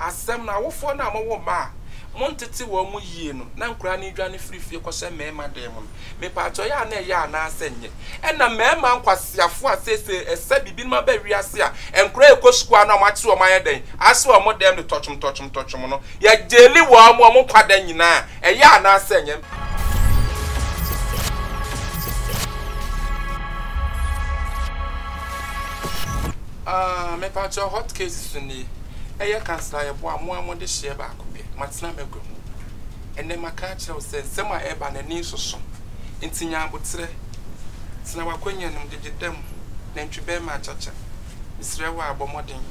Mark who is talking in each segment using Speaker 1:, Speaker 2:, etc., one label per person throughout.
Speaker 1: Asɛm no, Awofoɔ no a mowo mma a montete wɔn mu yie no na nkwadaa no redwane firi fie kɔhyɛ mmarima dan mu no, mepatwɔ yɛ a na ɛyɛ anaasɛ ɛnyɛ? Ɛnna mmarima nkwaseafoɔ a seesei ɛsɛ biribinom aba wiase a nkwadaa rekɔ sukuu a na wɔate wɔn ayɛ dɛn ahyɛ wɔn dan mu de tɔtwomtɔtwomtɔtwom no, yɛgyeele wɔn wɔn nkwa da nyinaa. Ɛyɛ anaasɛ ɛnyɛ? Aah, mepatwɔ hot case so nie. Ɛyɛ kansla a yɛboa a mo ara mode hyeɛ baako pɛ, moatena m'agua mu. Ɛnnɛ maka akyerɛ wo sɛ nsɛm a ɛreba no, ani nsoso. Enti nya aboterɛ, tena w'akonnwa no mu, gyegye da mu, nantwi barima akyakya. Mesrɛ wo ara, bɔ mmɔden.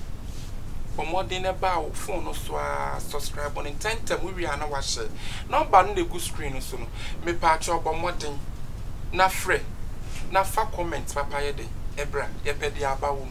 Speaker 1: Bɔ mmɔden na ɛba wo fon no so ara, subscribe no ntɛmntɛm, wowie a na woahyɛ. Nɔmba no na ɛgu screen no so no. Mepaakyɛw bɔ mmɔden na frɛ na fa comment papayɛ dɛn? Ɛbra, yɛpɛ deɛ aba wom.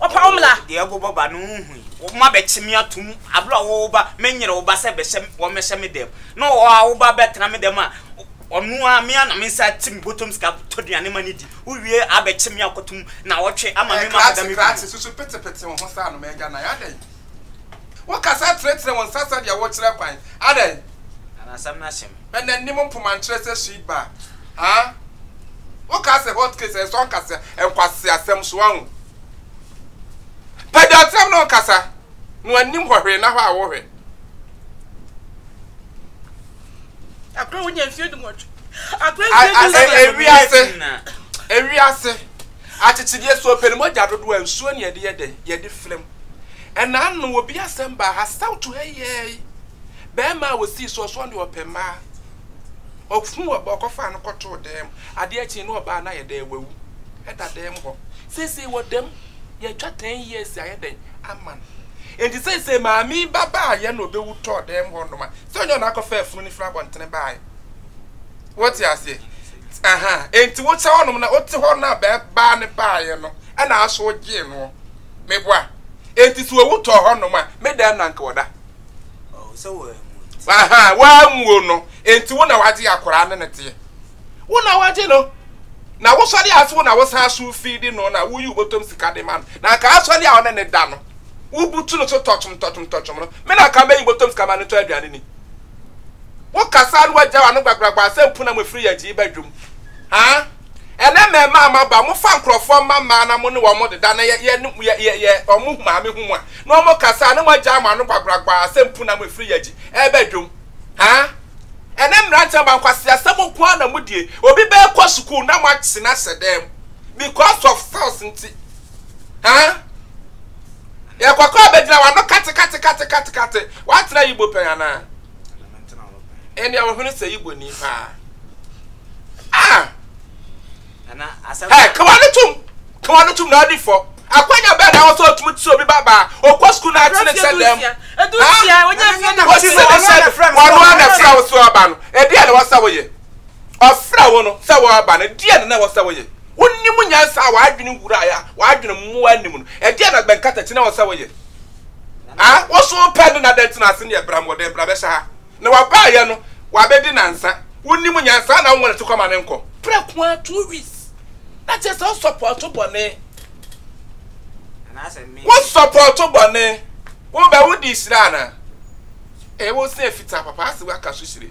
Speaker 1: Wɔpaw mmra. Deɛ ɛgo bɔ ba no
Speaker 2: nhui. Wɔabɛkye me ato mu. Abere a wɔwɔ ba, menyere wo ba sɛ bɛhyɛ, wɔmmɛhyɛ me dɛm. Na ɔwɔ a wo ba bɛtena me dɛm a, ɔno ara, me ara na me nsa ati me bɔtɔm sika tɔ aduane ma no di. Wowie a, abɛkye me akɔto mu, nnawɔtwe, ama me ma akɔda me kunu hɔ. Krakye, krakye, susu petepete
Speaker 3: wo ho saa no, m'agya nan, adɛn? Wo kasa tenetene wo nsa sɛdeɛ wo kyerɛ kwan. Adɛn? Na n'asɛm no
Speaker 2: ahyem. Hwɛ n'anim mpoma nkyerɛ
Speaker 3: sɛ sweet bar haa. Wo kaa sɛ hot case ɛnsɔ nkasea nkwaseasɛm so wahu. Pɛ deɛ ɔtenam ne wo kasa na w'anim hɔ hwee na hɔ a wo hwɛ.
Speaker 1: Akra wo nya mfie du nwɔtwe. Akra mfie du
Speaker 3: nwɔtwe. Ewiase. Ewiase. Akyekyedeɛ, Sɛ ɔpɛ ne mogya dodoɔ a, nsuo na yɛde yɛ dɛn? Yɛde fra mu. Ɛna ano, obi asɛm baa ha, Saw to ha yiɛɛi! Barima a ɔsii soɔ so, ɔno deɛ ɔpɛ mmaa. Ɔhuu ɔbaa, ɔkɔfaa no kɔtoo dan mu. Adeɛ kyee no, ɔbaa no ayɛ dɛn? Wawu. Ɛda dan mu hɔ. Seesei wɔ dam. Yɛatwa ten years ayɛ dɛn? Ama no. Enti seesei maame yi ba baaeɛ na ɔbɛwu tɔɔ dan mu hɔnom a, sɛ ɔnyɛ ɔno akɔfaa funu no firi abɔntene baaeɛ? Wote aseɛ? Aha, enti wokyɛ hɔnom na wote hɔ na bɛɛ baa ne baayɛ no, ɛna aso gyee noɔ. Meboa? Enti sɛ owu tɔɔ hɔnom a, me dɛn na nka ɔda? Oh, sɛ
Speaker 2: wɔanwuo nti.
Speaker 3: Aha, wɔanwuo no, enti wo na wagye akwaraa no ne teɛ. Wo na wagye no. Na wosɔre ase wo na wosan aso fiidi no na woyi wobɔtɔm sika de ma no. Na nka asɔre a ɔne ne da no, wobutu no so tɔtwom tɔtwom tɔtwom no, me na nka mɛyi bɔtɔm sika ma no tɔ aduane ni. Wo kasa no wagya wano gbagbagba sɛ mpuna mo firi yɛgye ba dwom haa ɛnɛ mɛmaa mo aba mo fa nkorɔfoɔ mma mmaa na mo ne wɔn deda na yɛ yɛ yɛ yɛ wɔn maame ho mu a na wɔn kasa a na mo agya mo ano gbagbagba sɛ mpuna mo firi yɛgye ɛba dwom haa ɛnɛ mmeranteɛ mma nkwasi asɛm nko ara na mo die obi bɛɛ kɔ sukuu na mo akyena hyɛ dɛm because of sales nti haa. Yɛ kɔkɔɔ bɛgyina w'ano katekatekatekate. Woatra Igbo pɛn anaa? Ɛnneɛ wo hwene sɛ Igboni paa. Ah!
Speaker 2: Hɛ, ka w'ano tom!
Speaker 3: Ka w'ano tom na ɔde fɔ. Akwanya bɛn na ɛwɔ sɛ ɔtumi te sɛ obi babaa, ɔkɔ sukuu na ate ne sɛ dɛm? Hã?
Speaker 1: Wosi ne sɛ
Speaker 3: wɔnoa na ɛfra wo so aba no, ɛdeɛn na ɛwɔ sɛ woyɛ? Ɔfrɛɛ wo no sɛ woaba no, ɛdeɛn na na ɛwɔ sɛ woyɛ? Wonim nyansa a w'adwene wuraeɛ a w'adwene mmoa nni mu no, ɛdeɛn na bɛn nkatakyie na ɛwɔ sɛ woyɛ? Ha? Wo so wopɛ no na adɛn nti na ase neɛ bra mmɔden bra bɛhyɛ ha? Na wabaeɛ no, wabɛdi nnansa. Wonim nyansa na wonwene to kɔma no nkɔ. Prɛko ara two weeks. Na kyerɛ sɛ wo sɔpɔɔto bɔne.
Speaker 2: Wo sɔpɔɔto
Speaker 3: bɔne. Wobɛ wode hyira anaa? Ee, wo se fitaa papa ase waka so hyire.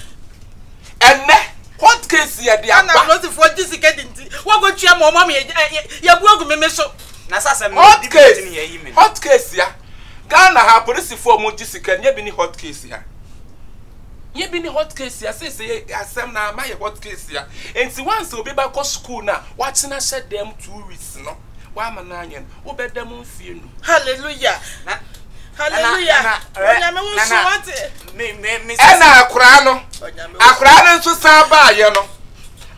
Speaker 3: Ɛnnɛ, court case yɛ de aba. Ghana apolisifoɔ gye sika
Speaker 1: di nti, wɔkɔtua ma wɔn ama yɛabu agu meme so. Hot case,
Speaker 3: hot case
Speaker 2: ya.
Speaker 3: Ghana ha apolisifoɔ a wɔgye sika no, yɛbi ne hot case ya. Yɛbi ne hot case ya. Seesei asɛm no ama ayɛ hot case ya. Enti once obi bɛkɔ sukuu no a, wakyena hyɛ dɛm two weeks no. W'ama no anyɛ no, wo bɛ da mu mfie num. Hallelujah! Na,
Speaker 1: Hallelujah! Na, na, Onyame wo nso wate. Me, me, me. Ɛna
Speaker 2: akoraa no,
Speaker 3: akoraa no nso san baayɛ no,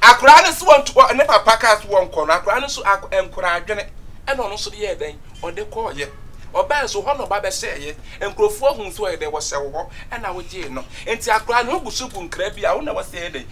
Speaker 3: akoraa no nso wɔn ne papa kaa so wɔn kɔ no, akoraa no nso ako nkora adwene ɛna ɔno nso de yɛ dɛn, ɔde kɔɔyɛ. Ɔbaa nso hɔ na ɔba bɛhyɛɛyɛ. Nkurɔfoɔ hu nso ɔyɛ dɛn, wɔhyɛ wo hɔ ɛna wogyee no. Nti akoraa no ho gu so gu nkra bi a wo na wɔsɛ yɛ dɛn,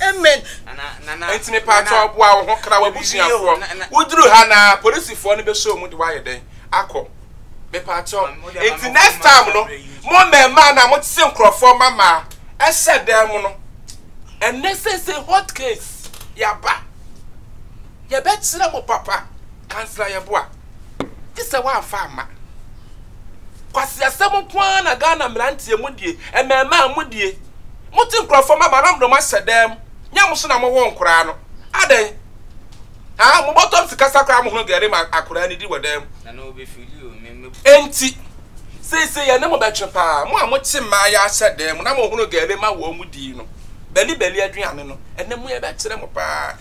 Speaker 3: Amen
Speaker 1: enti
Speaker 3: mepaatɔɔ boa wo ho kra w'abusuafoɔ woduru ha na polisifoɔ no bɛhyɛ wɔn mu de w'ayɛ dɛn akɔ mepaatɔɔ enti next time no mo mɛɛmaa na mo tese nkorɔfoɔ mamaa ɛhyɛ dɛn mo no ɛnɛ sese hot case yaba yɛbɛkyerɛ mo papa kansla yɛ boa gyesɛ w'amfa ama kwasiasɛm nkoaa na Ghana mmeranteɛ mo die mɛɛmaa mo die. Motse nkorɔfo mma bano mbrɛ wɔahyɛ dɛm mu, nyɛ mo so na mowoo nkoraa no. Adɛn? Haa, mobɔtɔ me sikasɛm koraa a mohunu dɛ erema akoraa no di wɔ dan mu.
Speaker 2: Ntsi,
Speaker 3: sesei yɛne mo bɛtwe paa, mo a motse mmaa yi ahyɛ dan mu na mohunu dɛ erema wɔn mu dii no, bɛli bɛli aduane no, ɛnnɛ mo yɛbɛkyerɛ mo paa.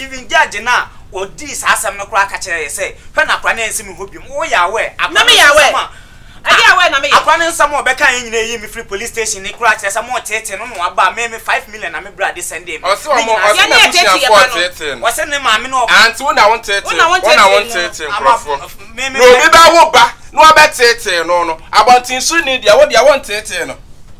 Speaker 2: Even judge no a ɔdii saa asɛm no koraa ka kyerɛɛ yɛ sɛ, hwɛ na akora no ansi me hɔ biom. Wo yɛ aware? Akora
Speaker 1: no nsɛm a akora no nsɛm a ɔbɛkaeɛ
Speaker 2: nyinaa yii me firii police station no koraa kyerɛ sɛ moreteetee no na waba a me me five million na me bra de sɛndee me. Ɔse wɔn ɔse
Speaker 3: n'abusuafoɔ ɔteetee no. Ɔse ne maame na ɔba.
Speaker 2: Aunty wo na wo nteetee
Speaker 3: no. Wo na wo nteetee nkorɔfoɔ. Na obi
Speaker 2: bɛwo ba
Speaker 3: na wabɛteetee no no. Abɔntenso ni deɛ wo deɛ wo nteetee no.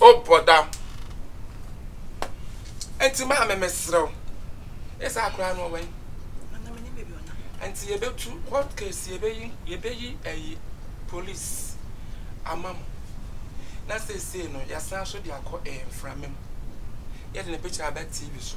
Speaker 2: Oh
Speaker 3: brother Ɛnti maame mesrɛ wo Yɛ saa koraa no ɔwɛn Nana menim baabi
Speaker 1: ɔnam Ɛnti yɛbɛtu court
Speaker 3: case yɛbɛyi yɛbɛyi ɛyi police ama mo Na seesei no yɛasan so de akɔ ɛɛ mframa mu Yɛde no picture aba TV so.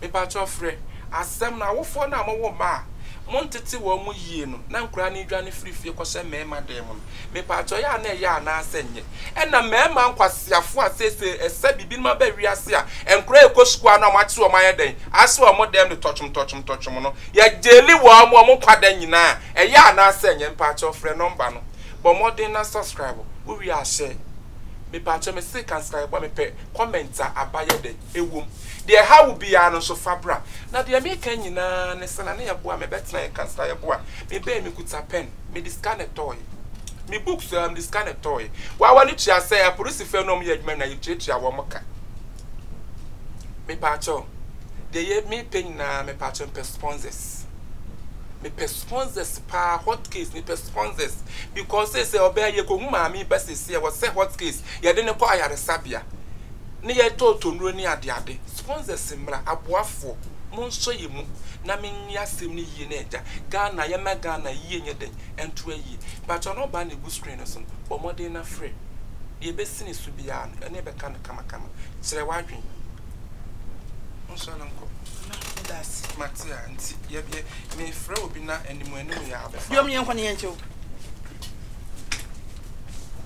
Speaker 3: Mepakyɛw frɛ asɛm no, awofoɔ no a mowo mma a montete wɔn mu yie no na nkwadaa no redwane firi fie kɔhyɛ mmarima dan mu no, mepakyɛw ɛyɛ a na ɛyɛ anaa sɛ ɛnyɛ? Ɛna mmarima nkwaseafoɔ a seesei ɛsɛ bibinom aba wiase a nkwadaa rekɔ sukuu a na wɔate wɔn ayɛ dɛn? Ahyɛ wɔn dan mu de tɔtwom tɔtwom tɔtwom no, yɛgyeli wɔn wɔn nkwa da nyinaa, ɛyɛ anaa sɛ ɛnyɛ? Mepakyɛw frɛ nɔmba no, bɔ mmɔden na subscribe, wowie a hyɛ. Mepakyɛw mese ka nsae bɔ a mepɛ comment a aba yɛ dɛn? Ɛwom. Deɛ ɛha wo biara no nso fa bra. Na deɛ meka nyinaa ne sɛ na ne yɛboa me bɛtena yɛn kasa yɛboa me bɛɛ me kuta pɛn me de sika na ɛtɔɔye me books aa me de sika na ɛtɔɔye wawa no tua sɛ aporisifɛ no ɔmo yɛ adwuma nyinaa yɛ tua tua wɔn ka me paakyɛw deɛ yɛ me pɛ nyinaa me paakyɛw me pɛ sponsors me pɛ sponsors paa hot case me pɛ sponsors because sɛ sɛ ɔbɛɛ yɛ kɔ hu maame ba sɛ sɛ wɔ sɛ hot case yɛ de ne kɔ ayaresabea. ne yɛ tɔɔtɔ nnuro ne adeade. Sponsors mmra, aboafoɔ, monsɔ yɛ mu na menye asɛm no yie na agya Ghana yɛmma Ghana yie nyɛ dɛn ɛntoa yie. Mpakyɛw number no a ɛgu screen no so no bɔ mmɔden na frɛ. Deɛ ɛbɛsi ne so biara no yɛne bɛka no kamakama. Kyerɛ w'adwen. Monsɔ no nkɔ. Mma meda ase.
Speaker 1: Mate a nti
Speaker 3: yɛ yɛ mefrɛ obi na anim anim yɛ a bɛfa Deɛ ɔmo yɛ nkɔ ne yɛnkyɛ o.